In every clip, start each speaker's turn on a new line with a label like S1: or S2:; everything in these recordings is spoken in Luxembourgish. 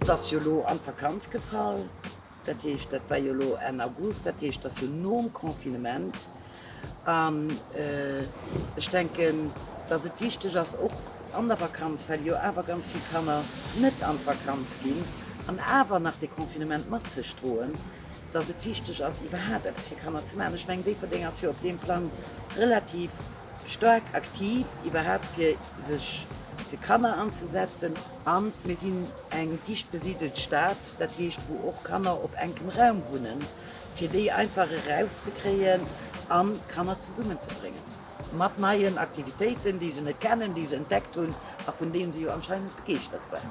S1: Et ass jo elo an d'Vakanz gefall. Dat heescht, dat war jo elo Enn August, dat heescht, et ass jo nom Confinement. An ech denken, dass et wichteg ass, och an der Vakanz, well jo awer ganz vill Kanner net an d'Vakanz ginn an awer nach dee Confinement mat sech droen, dass et wichteg ass, iwwerhaapt eppes fir Kanner ze maachen. Ech mengen, Déifferdeng ass jo op deem Plang relativ staark aktiv, iwwerhaapt fir sech fir Kanner anzesetzen. An mir sinn eng dicht besidelt Stad. dat heescht wou och Kanner op enkem Raum wunnen, fir déi einfach erauszekréien a Kanner zesummenzebréngen, mat neien Aktivitéiten, déi se net kennen, déi se entdeckt hunn a vun deene se jo anscheinend begeeschtert waren.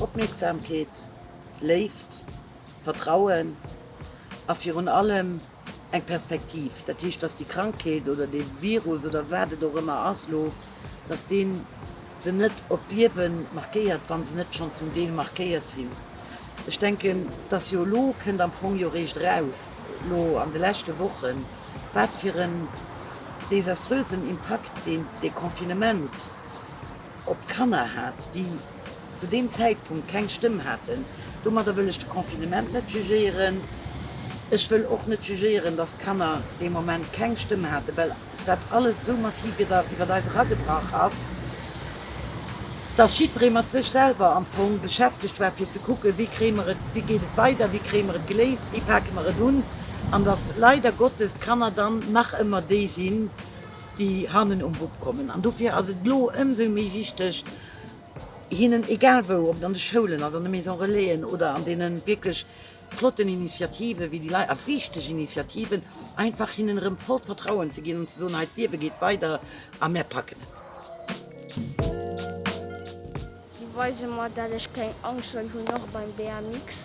S1: Opmierksamkeet, Léift, Vertrauen a virun allem Eng Perspektiv, dat heescht, dass déi Krankheet oder dee Virus oder wat et och ëmmer ass elo, dass dee se net op d'Liewe markéiert, wa se net schonn zum Deel markéiert sinn. Ech denken, dass jo elo kënnt am Fong jo eréischt eraus, elo an de leschte Wochen, wat fir en desaströsen Impakt deen Deconfinement, op d'Kanner hat, déi zu deem Zäitpunkt keng Stëmm haten. Domadder wëll ech de Confinement net jugéieren. Ech wëll och net jugéieren, dass d'Kanner dee Moment keng Stëmm haten, well dat alles esou massiv iwwert eis eragebrach ass, dass jiddweree mat sech selwer am Fong beschäftegt war, fir ze kucken, wéi kréie mer et, wéi geet et weider, wéi kréie mer et geléist, wéi pake mer et un, an dass leider Gottes d'Kanner dann nach ëmmer déi sinn, déi hannen um Bub kommen an dofir ass et elo ëmsou méi wichteg hinnen, egal wou, ob et an de Schoulen ass, an de Maison Relaisen oder an deene wierklech flotten Initiativen, wéi déi Leit, a wichteg Initiativen, einfach hinnen erëm vollt Vertrauen ze ginn an ze soen, hei, d'Liewe geet weider a mär packen et. Si weise mer dat ech keng Angscht soll hunn, och beim BMX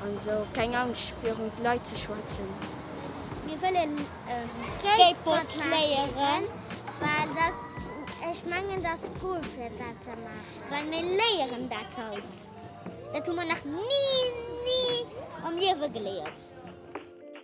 S1: an esou, keng Angscht virun d'Leit ze schwätzen. Mir wëllen Skateboard léieren, well dat, ech mengen dat ass cool fir dat ze maachen, well mir léieren dat haut, dat hu mer nach ni, ni am Liewe geléiert.